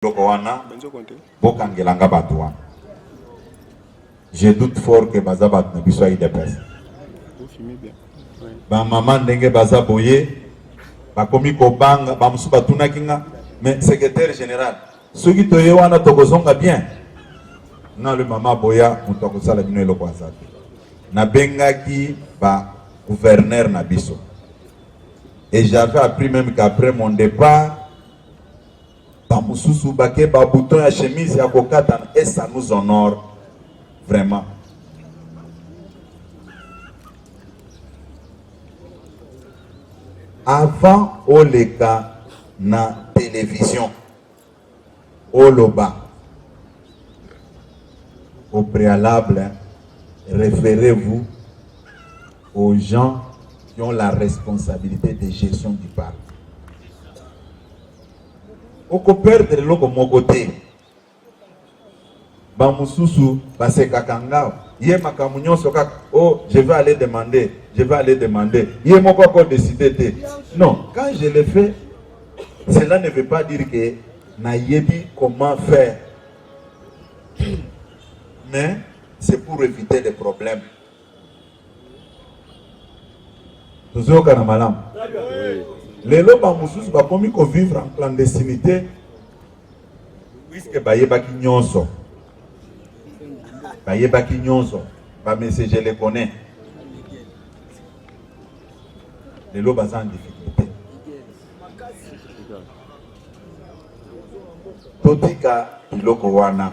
biloko wana bokangela nga bato wana je doute fort que baza bato na biso ya udps bamama ndenge baza boye bakomi kobanga bamosusu batunaki nga mais secrétaire général soki toye wana tokozonga bien na le mama boya moto akosala bino eloko aza te nabengaki ba gouverneur na biso et j'avais appris même qu'après mon départ Ba mususu bake ba bouton ya chemise ya kokata et ça nous honore vraiment. Avant oleka na television oloba au préalable référez-vous aux gens qui ont la responsabilité de gestion du parc. oko perdre eloko moko te. Ba mususu basekaka nga ye makambo nyonso kaka o oh, je vais aller demander je vais aller demander ye moko ako décider te non quand je le fais cela ne veut pas dire que nayebi comment faire mais c'est pour éviter les problèmes tozoyokana malamu lelo bamosusu bakomi kovivre en clandestinité puiske bayebaki nyonso bayebaki nyonso bamese je le connais lelo baza en difficulté totika biloko wana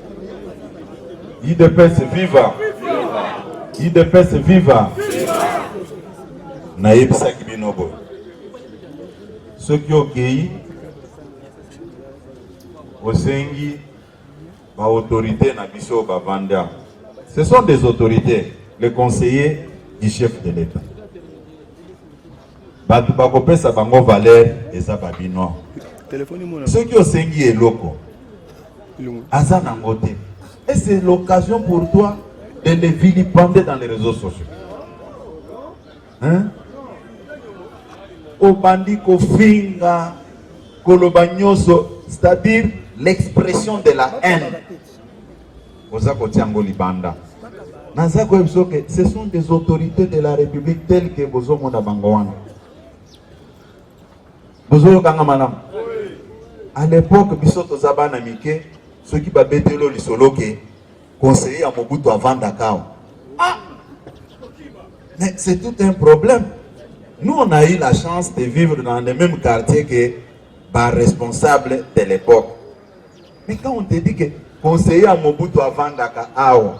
Idepese viva! Idepese viva! Nayebisaki bino boye, soki okei osengi ba autorités na biso bavandi awa, ce sont des autorités, les conseillers du chef de l'État. Bato bakopesa bango valeur eza babino. Soki osengi eloko aza nango te et c'est l'occasion pour toi de les vilipender dans les réseaux sociaux hein? obandi kofinga koloba nyonso c'est-à-dire l'expression de la haine Oza kotia yango libanda. Naza koyebisa biso ke ce sont des autorités de la République telles que bozomona bango wana. Bozoyokanga malamu. À l'époque biso toza bana mike soki babetelo lisolo ke conseiller ya Mobutu avandaka awa. Ah! Mais c'est tout un problème. Nous, on a eu la chance de vivre dans le même quartier que les responsables de l'époque. Mais quand on te dit que conseiller ya Mobutu avandaka awa,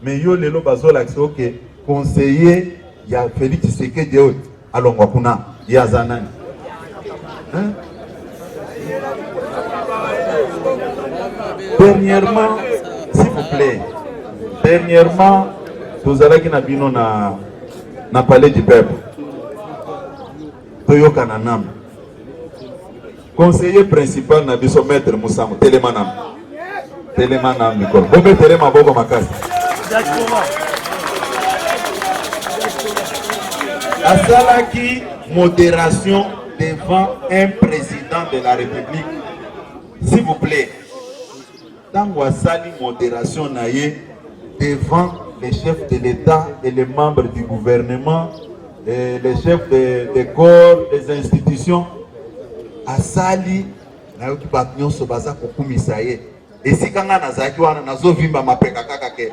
mais yo lelo bazolakisa yo ke conseiller ya Felix Tshisekedi oyo alongwa kuna, ye aza nani hein? Dernièrement, s'il vous plaît, dernièrement tozalaki na bino na, na palais du peuple toyokana nanu Conseiller principal na biso maître Musango telema na telema na mikolo bombe telema boko makasi asalaki moderation devant un président de la République s'il vous plaît Tango asali moderation na ye devant les chefs de l'État et les membres du gouvernement, et les chefs des de corps, des institutions, asali nayoki bato nyonso baza kokumisa ye esika ngai nazalaki wana nazovimba mapeka kaka ke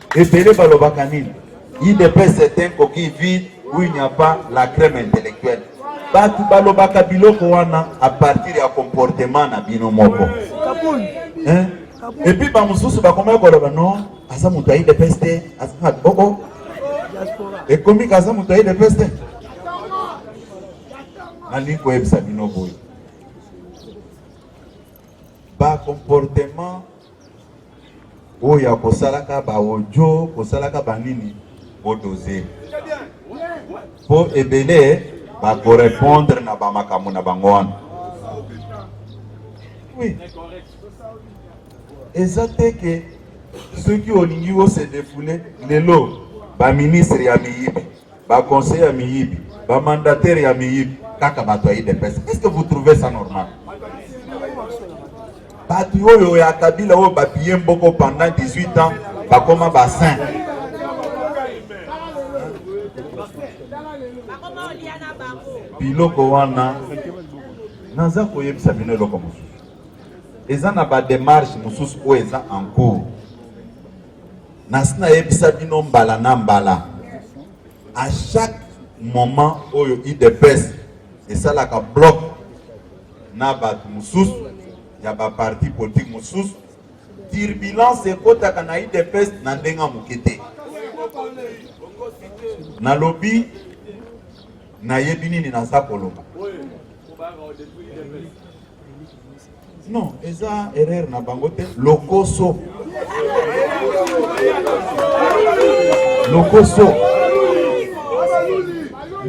Ebele balobaka nini? UDPS c'est un coquille vide où il n'y a pas la crème intellectuelle. Batu balobaka biloko wana à partir ya comportement na bino moko. Hein? Et puis ba mususu bakomaki koloba non, aza moto ya UDPS te, aza na bobo. Ekomi kaza moto ya UDPS te. Nalingi koyebisa bino boye. Ba comportement oyo ya kosalaka ba audio kosalaka banini bodose mpo ebele bakorepondre na bamakambo na bango wana oui. eza te ke soki olingi ose defule lelo baministre ya miyibi Ba conseillers ya miyibi, ba mandataires ya miyibi, kaka bato ya UDPS. Est-ce que vous trouvez ça normal? Bato oyo ya Kabila oyo bapiye mboko pendant 18 ans bakoma ba saint. Biloko wana naza koyebisa bino eloko mosusu, eza na ba démarche mosusu oyo eza en cours nasi nayebisa bino mbala na mbala à chaque moment oyo udps esalaka bloc na bato mosusu ya baparti politike mosusu turbulence ekotaka na udps na ndenge ya moke te nalobi nayebi nini naza koloba Non, eza erreur na bango te. Lokoso. Lokoso.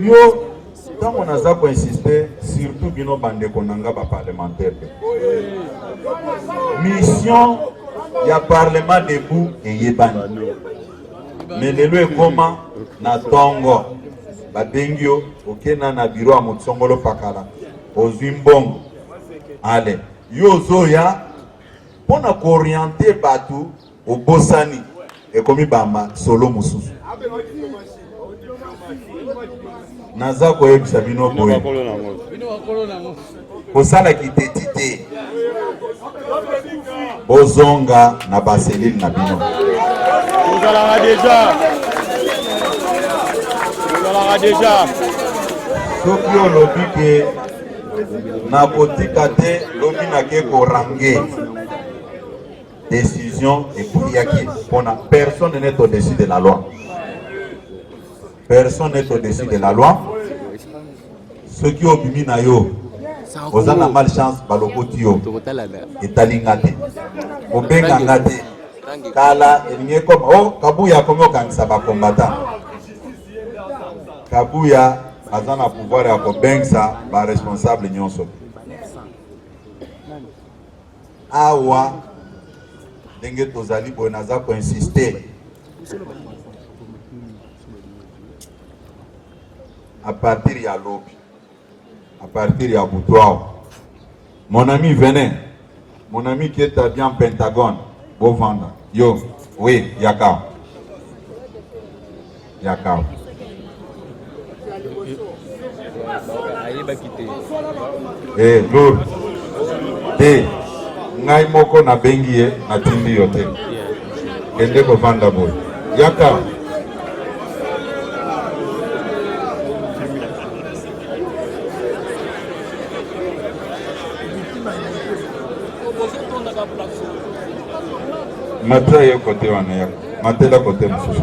Yo ntango naza koinsiste surtout bino bandeko na nga baparlementaire mission ya parlement debout eyebani me lelo ekoma na ntongo babengi yo okenda na biro ya motisongolo pakala ozwi mbongo ale yo ozoya mpo na kooriente bato obosani ekomi bama solo mosusu naza koyebisa bino boye kosala kiteti te bozonga na baselile na bino ozalaka deja ozalaka deja soki olobi ke nakotika te lobi nake korange décision ekweyaki mpona personne n'est au-dessus de la loi personne n'est au-dessus de la loi soki obimi na yo oza na mal chance balokoti yo etali nga te kobenga nga te kala elingi ekoma o oh, kabuya akomi okangisa bakombata Kabuya aza na pouvoir ya kobengisa ba responsable nyonso awa ndenge tozali boye naza koinsiste a partir ya lobi à partir ya butu awa mon ami venez mon ami qui est bien pentagone bovanda yo oui yaka yaka eh lour te ngai moko nabengi ye natindi yo te kende kovanda boye yaka mata ye kote wana ya matela kote mosusu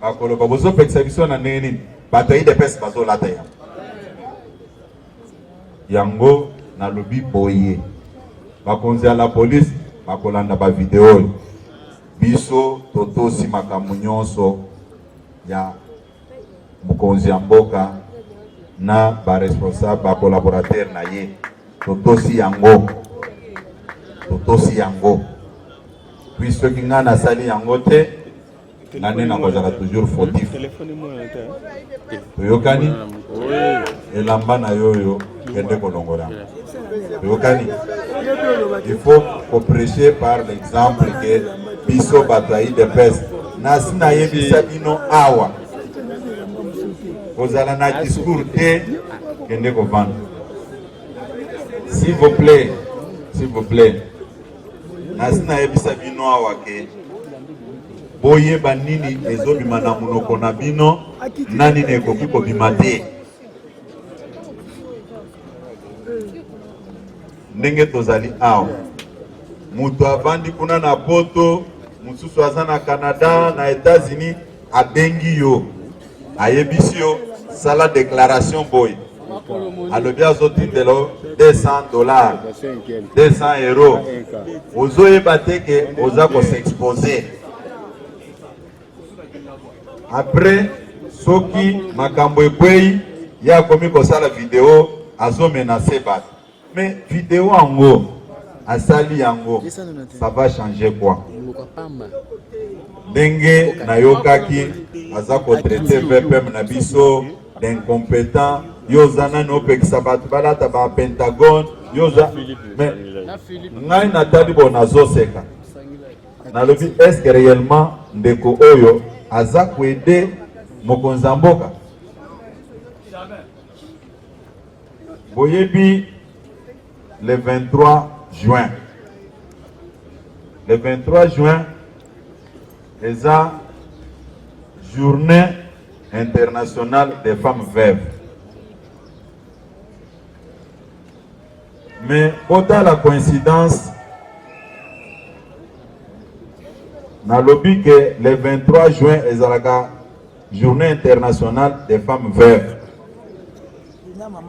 bakoloba bozopekisa biso na ndenge nini bato ya idps bazolata ya yango nalobi boye bakonzi ya la polise bakolanda bavideo oyo biso totosi makambo nyonso ya mokonzi ya mboka na baresponsable bakolaborateur na ye totosi yango totosi yango puis soki ngai nasali yango te nga nde nakozala toujours fautif toyokani elamba na yo oyo kende kolongola toyokani il faut koprêche par l'exemple ke biso bato ya idps nasi nayebisa bino awa kozala na discours te kende kovanda s'il vous plaît s'il vous plaît nasi nayebisa bino awa ke boyeba nini ezobima na monoko na bino na nini ekoki kobima te ndenge tozali awa moto avandi kuna na poto mosusu aza na canada na etats-unis abengi yo ayebisi yo sala declaration boye alobi azotindela 200 dollars 200 euro ozoyeba te ke oza kosexpose apres soki makambo ekwei ye akomi kosala video azomenase bato Mais video yango asali yango ça va changer quoi? Ndenge nayokaki aza ko traiter VPM na biso d'incompétent yo oza nani opekisa bato balata ba pentagone yo oza mais ngai natali bo nazoseka nalobi eske réellement ndeko oyo aza koede mokonzi ya mboka Boyebi le 23 juin. Le 23 juin eza journée internationale des femmes veuves. Mais autant la coïncidence nalobi que le 23 juin ezalaka Journée internationale des femmes veuves.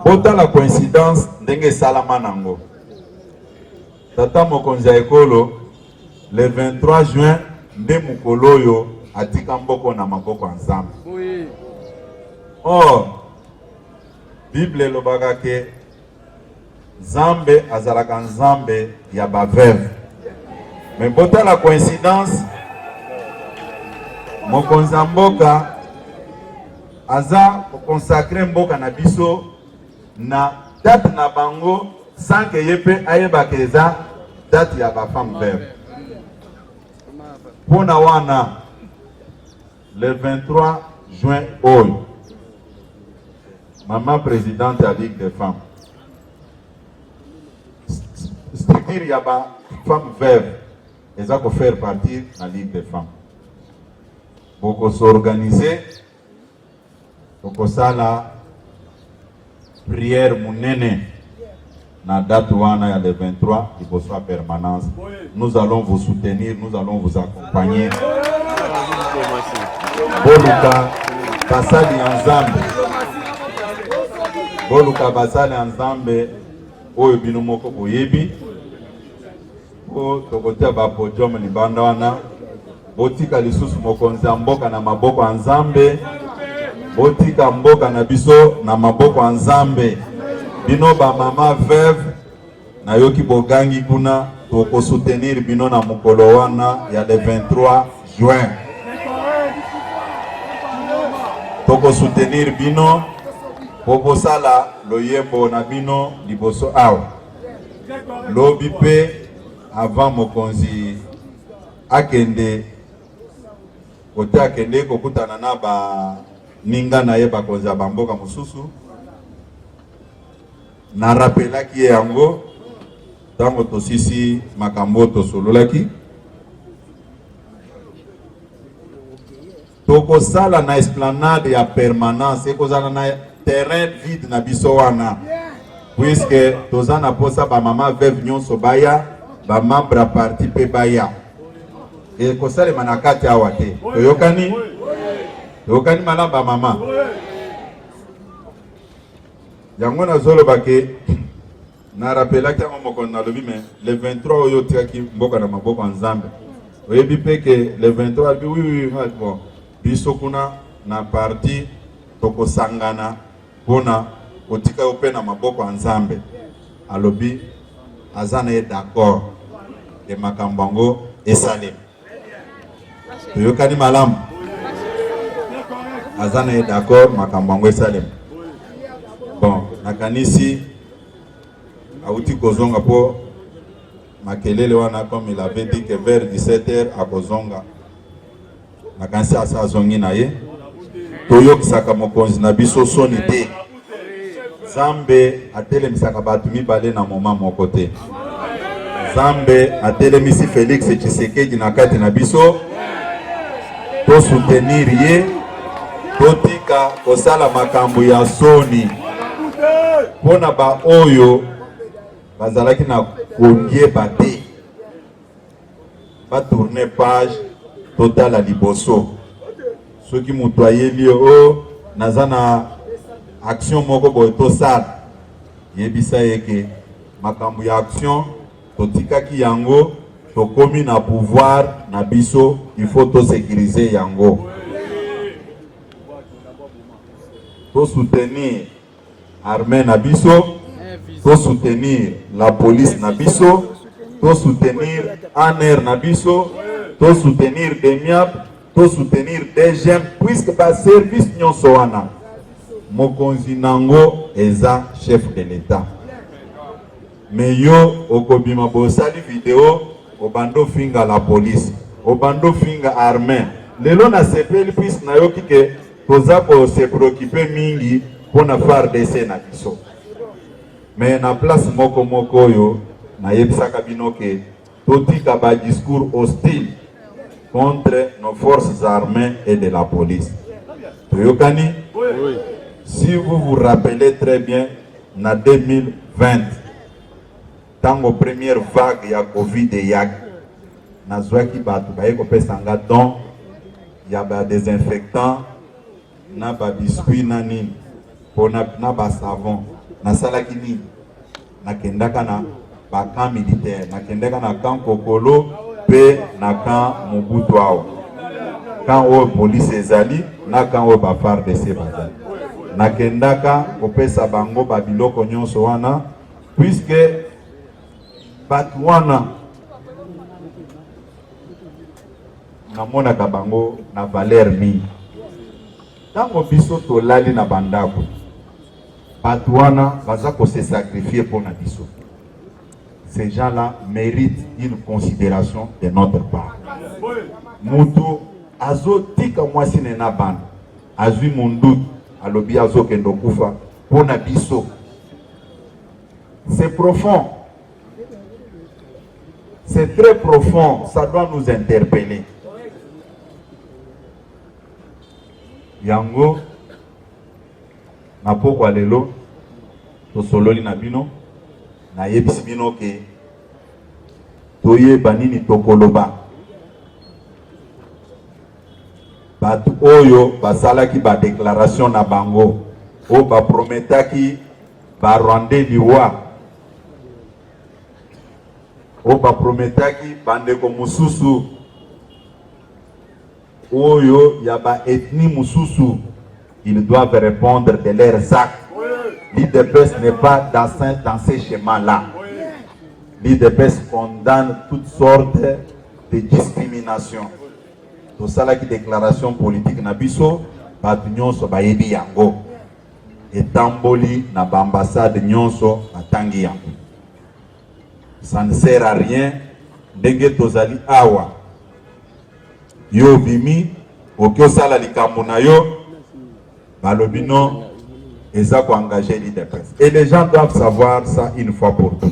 Botala coïncidence ndenge esalama nango. Tata mokonzi ya ekolo le 23 juin nde mokolo oyo atika mboko na maboko ya Nzambe. Or Bible elobaka ke Nzambe azalaka Nzambe ya ba veuve. Me botala coïncidence, mokonzi ya mboka aza konsakre mboka na biso na date na bango sans que ye mpe ayebaka eza date ya ba femme veuve. Mpona wana Le 23 juin oyo mama presidente ya Ligue des femmes structure ya ba femme veuve eza ko faire partie na Ligue des femmes boko s'organiser Tokosala prière munene na date wana ya le 23 liboso ya permanence. Nous allons vous soutenir, nous allons vous accompagner. Boluka basali ya Nzambe, boluka basali ya Nzambe oyo bino moko boyebi. Po tokotia ba podium libanda wana, botika lisusu mokonzi ya mboka na maboko ya Nzambe, botika mboka na biso na maboko ya Nzambe. Bino ba mama veuve, nayoki bogangi kuna, tokosoutenir bino na mokolo wana ya le 23 juin, tokosoutenir bino po bosala loyembo na bino liboso awa. Lobi pe avant mokonzi akende kote akende kokutana na ba ninga na ye bakonzi ya bamboka mosusu na rapelaki ye yango ntango tosisi makambo oyo tosololaki Tokosala na esplanade ya permanence, ekozala na terrain vide na biso wana puisque toza na posa ba mama veuve nyonso baya ba membre ya parti mpe baya ekosalema na kati awa te toyokani toyokani malamu ba mama yango nazoloba ke Na rappelaki yango mokolo nalobi mais le 23 oyo otikaki mboka na maboko ya Nzambe. Oyebi pe que le 23 alobi oui oui nga bon biso kuna na parti tokosangana pona kotika yo pe na maboko ya Nzambe. Alobi aza na ye d'accord de makambo yango esalema. toyokani malamu aza na ye d'accord makambo yango esalema bon nakanisi awuti kozonga mpo makelele wana comme il avait dit que vers 17 heures akozonga nakanisi asa azongi na ye toyokisaka mokonzi na biso soni te Nzambe atelemisaka bato mibale na moma moko te. Nzambe atelemisi Felix Tshisekedi na kati na biso, tosutenir ye, totika kosala makambo ya soni mpo na baoyo bazalaki na koyeba te. ba tourner page totala liboso soki moto ayebi yo o oh, naza na action moko boye tosala yebisa ye ke makambo ya action totikaki yango tokomi na pouvoir na biso il faut tosekirize yango tosoutenir armee na biso to soutenir la police na biso to soutenir ANR na biso to soutenir DEMIAP to soutenir DGM puisque ba service nyonso wana mokonzi nango eza chef de l'etat me yo okobima bosali video obando finga la police obando finga armée lelo nasepeli puisque nayoki ke Toza ko se preoccuper mingi mpo na FARDC na biso, mais na place moko moko oyo nayebisaka bino ke totika ba discours hostile contre nos forces armées et de la police. Toyokani? Oui. Si vous vous rappelez très bien, na 2020 Tango première vague ya Covid eyaki, nazwaki bato baye kopesa nga don ya ba desinfectant na ba biscuit na nini pona na ba savon. Nasalaki nini? Nakendaka na ba camp militaire, nakendaka na camp Kokolo pe na camp Mobutu awa camp oyo police ezali na camp oyo ba FARDC bazali, nakendaka kopesa bango ba biloko nyonso wana Puisque bato wana namonaka bango na valeur mingi ntango biso tolali na bandako bato wana baza kose sacrifie mpo na biso ces gens là mérite une considération de notre part mutu azotika mwasi ne na bana azwi monduki alobi azokende okufa mpo na biso C'est profond. C'est très profond. Ça doit nous interpeller. Yango, na pokwa lelo, tosololi na bino, na yebisi bino ke toyeba nini tokoloba. Bato oyo basalaki ba declaration na bango oyo ba prometaki ba rwandais liwa, oyo ba prometaki bandeko mosusu oyo ya ba ethnie mosusu, ils doivent répondre de leurs actes. L'IDPS n'est pas dans, dans ces schémas-là. L'IDPS condamne toutes sortes de discriminations. tosalaki declaration politique na biso bato nyonso bayebi yango etamboli na baambassade nyonso batangi yango ça ne sert à rien ndenge tozali awa yo obimi oki osala likambo na yo balobi no eza koengage lidepes et les gens doivent savoir ça une fois pour tout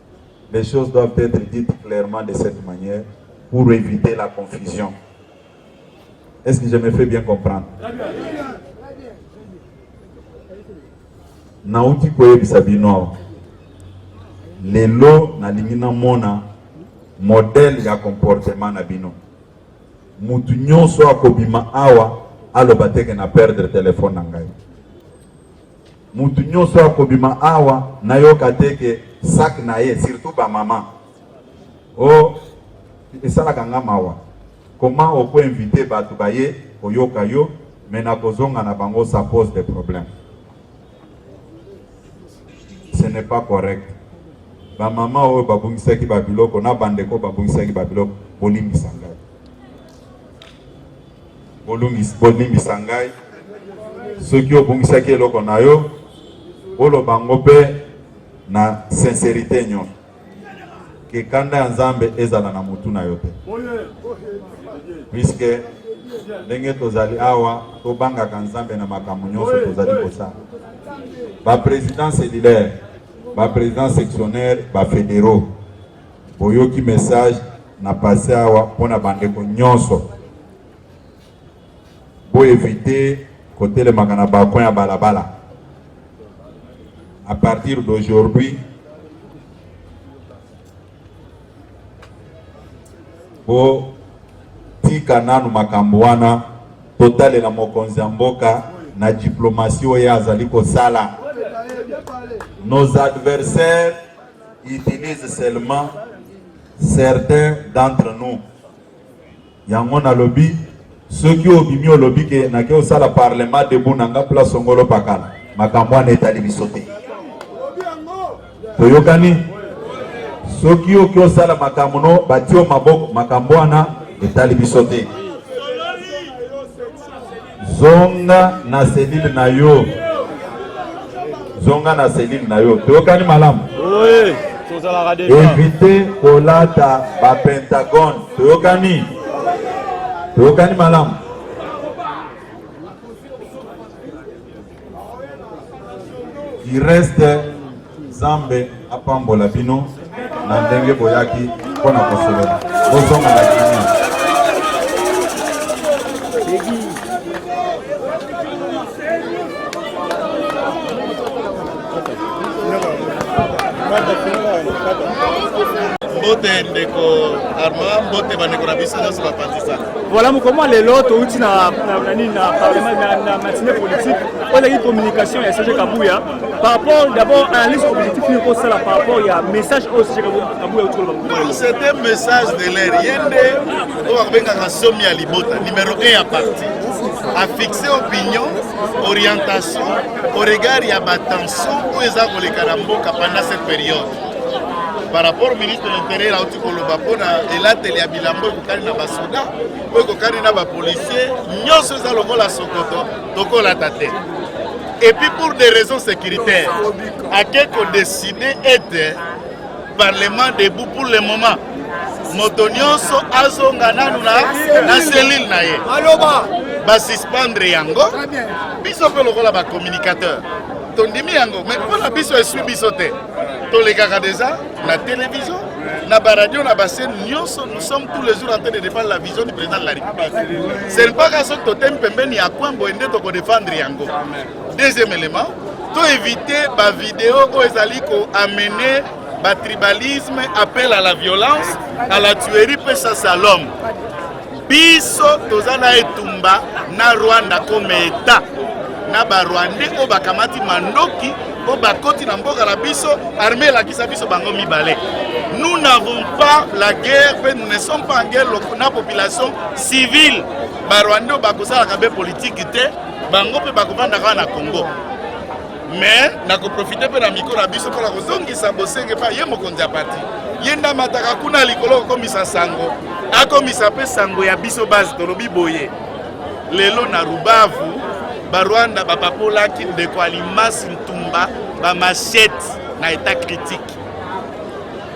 Les choses doivent être dites clairement de cette manière pour éviter la confusion. Est-ce que je me fais bien comprendre? Nauti koyebisa bino awa lelo nalingi namona modele ya comportement na bino. Mutu nyonso akobima awa aloba teke na perdre telefone na ngai. Mutu nyoso akobima awa nayoka te ke sac na ye surtout ba mama oh, esalaka nga mawa koma oko invite bato baye koyoka yo me na kozonga na bango ça pose des problèmes ce n'est pas correct bamama oyo babungisaki babiloko na bandeko babungisaki babiloko bolimbisa ngai Bolimbisa ngai soki obungisaki eloko na yo, boloba yango mpe na sincerite nyon ke kanda ya Nzambe ezala na motu na yo te, puiske ndenge tozali awa tobangaka Nzambe na makambo nyonso tozali kosala. Ba president cellulaire, ba president sectionnaire, ba federaux Boyoki message na passe awa mpo na bandeko nyonso boevite kotelemaka na balcon ya balabala. À partir d'aujourd'hui botika nanu makambo wana, totalela mokonzi ya mboka na diplomatie oyo azali kosala nos adversaires utilise seulement certains d'entre nous yango nalobi soki obimi olobi ke nake osala parlement debout na nga place ongolo pakala makambo wana etali biso te toyokani soki oki osala makambo no batio maboko makambo wana etali biso te Zonga na selile na yo, zonga na selile na yo. Toyokani malamu? Oui, tozalaka deja. Éviter kolata ba pentagone. Toyokani? Toyokani malamu? Il reste Zambe apambola bino na ndenge boyaki mpo na kosolola bozonga na kimia mbote ndeko arma mbote bandeko na biso nyonso bapanzisana Voilà mokoma lelo touti na nini na parlement na matinée politique oyo ezalaki communication ya Serge Kabuya par rapport d'abord analyse objectif nini kosala par rapport ya message oyo Serge Kabuya outi koloba mokoma lelo c'est un message de l'air ye nde oyo abengaka somi ya libota numéro 1 ya parti afixe opinion orientation au regard ya batension oyo eza koleka na mboka pendant cette période par rapport au ministre de l'intérieur koloba mpo na elateli ya bilambo ekokani na basoda oyo ekokani na bapolisier nyonso eza lokola sokoto tokolata te epuis pour des raisons sécuritaires ake kodesine ete parlement debout pour le moment moto nyonso azonga nanu na selile na ye basuspendre yango biso mpe lokola bacommunicateur tondimi yango mai mpo na biso eswi biso te tolekaka deja na télévision, na ba radio, na ba chaîne nyonso, nous sommes tous les jours en train de défendre la vision du président de la République. C'est le pas qu'à ce totem pembeni ya kwambo ende toko défendre yango. Deuxième élément, to éviter ba vidéo oyo ezali ko amener ba tribalisme, appel à la violence, à la tuerie, pesa salom. biso toza na etumba na rwanda comme eta na barwandais oyo bakamati mandoki oyo bakoti na mboka na biso armée elakisa biso bango mibale nous n'avons pas la guerre mpe nous ne sommes pas en guerre na population civile barwandais oyo bakosalaka mpe politiki te bango mpe bakovanda kaka na congo mais nakoprofite mpe na mikro na biso mpo na kozongisa bosenge mpe ye mokonzi ya pati ye nde amataka kuna likolo kokomisa sango akomisa mpe sango ya biso base tolobi boye lelo na rubavu barwanda bapapolaki ndeko alimasi ntumba bamashete na etat critique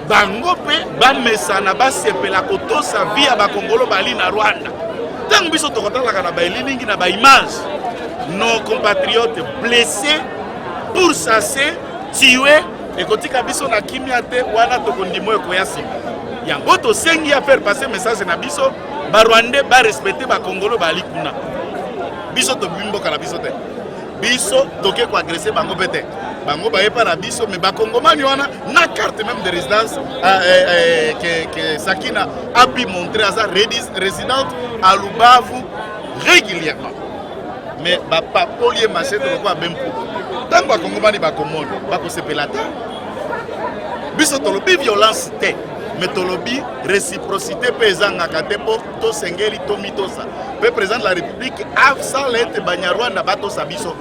bango mpe bamesana basepela kotosa vi ya bakongolo bali na rwanda ntango biso tokotalaka na baelilingi na baimage nos compatriotes blessés pourchassés tués ekotika biso na kimia te wana tokondima oyo ekoya nsima yango tosengi ya faire passer message na biso barwandais barespecte bakongolo baali kuna biso tobibi mboka na biso te biso toke koagrese bango mpe te bango bayepa na biso me bakongomani wana na carte même de résidence euh, euh, euh, que, que Sakina a pu montrer à sa résidente à Lubavu régulièrement. Mais papa Polier Massé ne pas même pour. Tant que Kongomani va commande, va se la terre. Biso tolobi violence te, mais tolobi réciprocité pezanga katepo to sengeli to mitosa. Pe président de la République avsa lete banyarwanda bato sabiso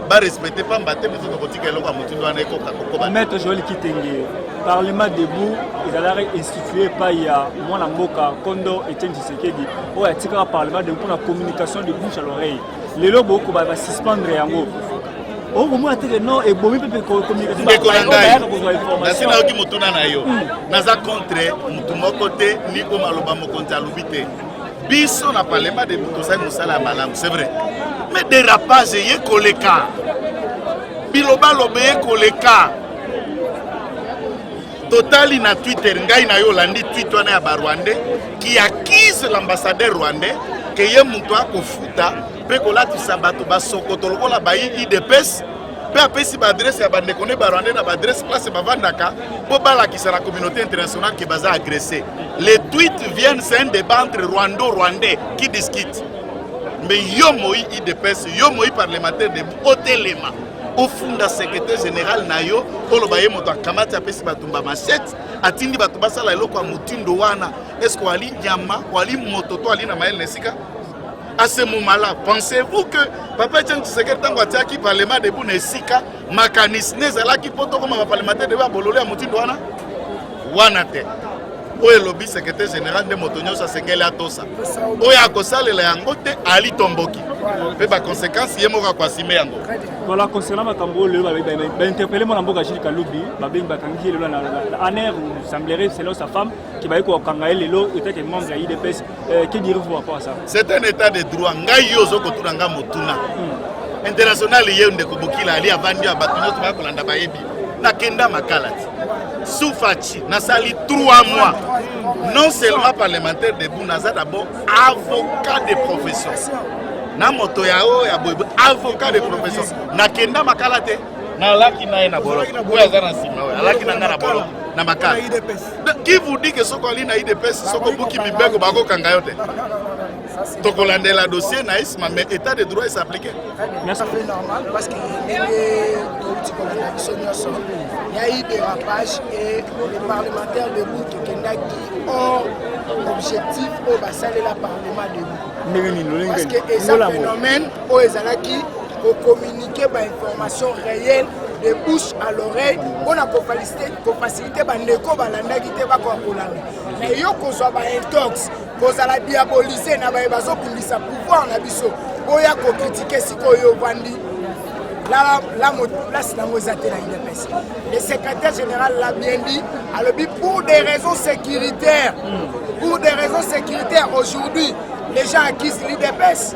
ba respecte pamba te biso tokotika eloko ya motindo wana ekoka kokoba maître joel kitenge parlement debout ezalaki institue epai ya mwana mboka kondo etienne tshisekedi oyo atikaka parlement debout mpona communication de bouche à l'oreille lelo bokoba basuspendre yango okomona teke no ebomi mpe ndeko na ngai nasi nayoki motuna na yo hmm. naza contre motu moko te ni oyo maloba mokonzi alobi te biso na parlement de tozali mosala ya malamu c'est vrai mais dérapage eye koleka bilobaloba eye koleka totali na twitter ngai na yo olandi twit wana ya barwandais qui accuse l'ambassadeur rwandais ke ye moto akofuta mpe kolatisa bato basokoto lokola bayi idps mpe apesi baadrese ya bandeko nde barwandais na baadrese place bavandaka mpo balakisa na communauté internationale ke baza agresse les tweets viennent c'est un débat entre rwando rwandais qui discute mais yo moi idps yo moi parlementaire de otelema ofunda secrétaire général na yo oloba ye moto akamati apesi bato mba machete atindi bato basala eloko ya motindo wana eske wali nyama wali moto to ali na mayele na esika à ce moment-là pensez-vous que papa etienne tshisekedi ntango atiaki parlement debout na esika makanisi ne ezalaki mpo tokoma baparlementaire debout ya bololo ya motindo wana wana te oyo elobi secrétaire général nde moto nyonso asengeli atosa oyo akosalela yango te ali tomboki mpe baconséquence ye moko akoasime yango voilà concernant makambo oyo lelo bainterpele mwana mboka jules kalubi babengi bakangi ye lelo na aner semblerait selon sa femme que baye kokanga ye lelo etat que membre ya idps euh, que direz-vous par rapport à ça c'est un état de droit ngai yo ozo kotuna ngai motuna hmm. international ye ndeko bokila ali avandi ya bato nyonso bakolanda bayebi nakenda makala ti sufaci nasali 3 mois non seulement parlementaire debu naza d'abord avocat de profession na moto ya oyo ya boye avocat de profession nakenda makala te nalaki na ye na boloko oyo aza na nsima oyo alaki na ngai na boloko na makala qui vous dit que soko ali na idps soko buki mibeko bakokanga yo te tokolandela dossier na isma mais état de droit esappliqué normal parce que ndenge touti kolanda biso nyonso ya i dérapage et le parlementaire debout tokendaki hors objectif oyo basalela parlement debout parce que eza phénomène oyo ezalaki kocommuniquer bainformation réelle de bouche à l'oreille mpo na kofacilite te bandeko balandaki te bakoka kolanda na yo kozwa baintox kozala diabolise na baye bazobundisa pouvoir na biso boya kokritike sikoyo ovandi place nango eza te na udps le secrétaire général l'a bien dit alobi pour des raisons sécuritaires pour des raisons sécuritaires aujourd'hui les gens acquisent l'udps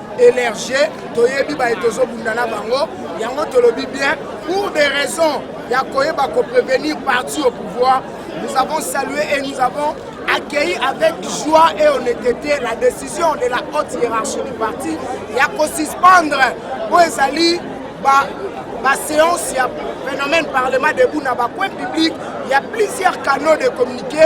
elerge toyebi baye tozobunda na bango yango tolobi bien pour des raisons ya koyeba koprevenir parti au pouvoir nous avons salué et nous avons accueilli avec joie et honnêteté la décision de la haute hiérarchie du parti ya kosuspendre mpo ezali ba baséance ya phénomène parlement debout na bacoin public ya plusieurs canaux de communiqué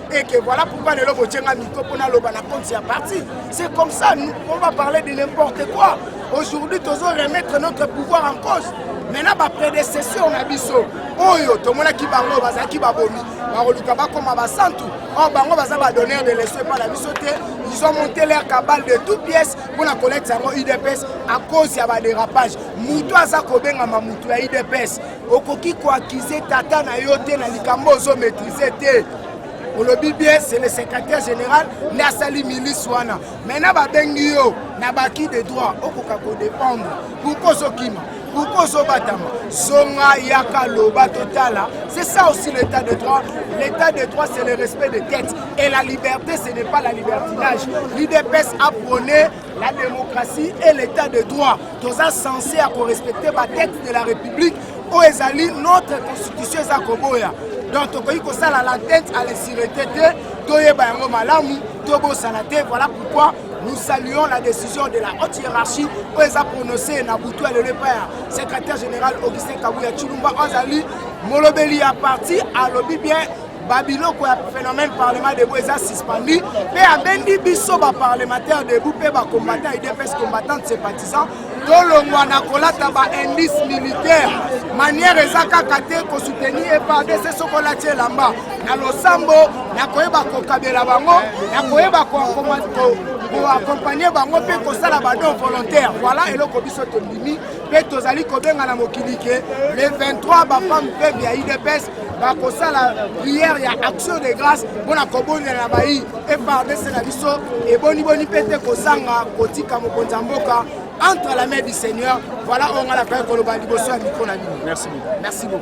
et que voilà pourquoi lelo botie nga micro mpo naloba na compte ya parti c'est comme ça nous, on va parler de n'importe quoi aujourd'hui tozo remettre notre pouvoir en cause maintenant baprédécesseur na biso oyo tomonaki bango bazalaki babomi bakoluka bakoma basantu or bango baza badonneur de leso epai na biso te ils ont monté leur cabale de tout pièce mpo na kolekisa yango udps à cause ya badérapage moto aza kobengama moto ya udps okoki koakize tata na yo te na likambo ozo maîtrise te olobi bien c'est le secrétaire général nde asali milice wana maintenant babengi yo na baki de droit okoka kodépendre pourkoi ozokima pourkoi ozobatama zonga yaka loba totala c'est ça aussi l'état de droit l'état de droit c'est le respect de tête et la liberté ce n'est pas la libertinage l'idps a prôné la démocratie et l'état de droit toza censé ya korespecte batexte de la république oyo ezali notre constitution eza koboya donc tokoki kosala la tête à l'insirete te toyeba yango malamu tobosana te voilà pourquoi nous saluons la décision de la haute hiérarchie oyo eza prononcé na butu ya lelo epai ya secrétaire général augustin kabuya tshilumba oyo azali molobeli ya parti alobi bien babiloko ya phénomène parlement debout eza suspendu mpe abendi biso baparlementaire debout mpe bacombattant idps combattante sympathisant tolongwa na kolata baindice militaire manière eza kaka te kosoutenir epardc soko olati elamba na losambo na koyeba kokabela bango na koyeba koakompanye bango mpe kosala badon volontaire voilà eloko biso tondimi mpe tozali kobenga na mokili ke le 23 bafemme peuple ya udps bakosala prière ya action de grâce mpo na kobondela na bayi efardc na biso eboniboni mpe te kozanga kotika mokonzi ya mboka entre la main du seigneur voilà oyo ngai nakaki koloba liboso ya mikro na bino merci beaucoup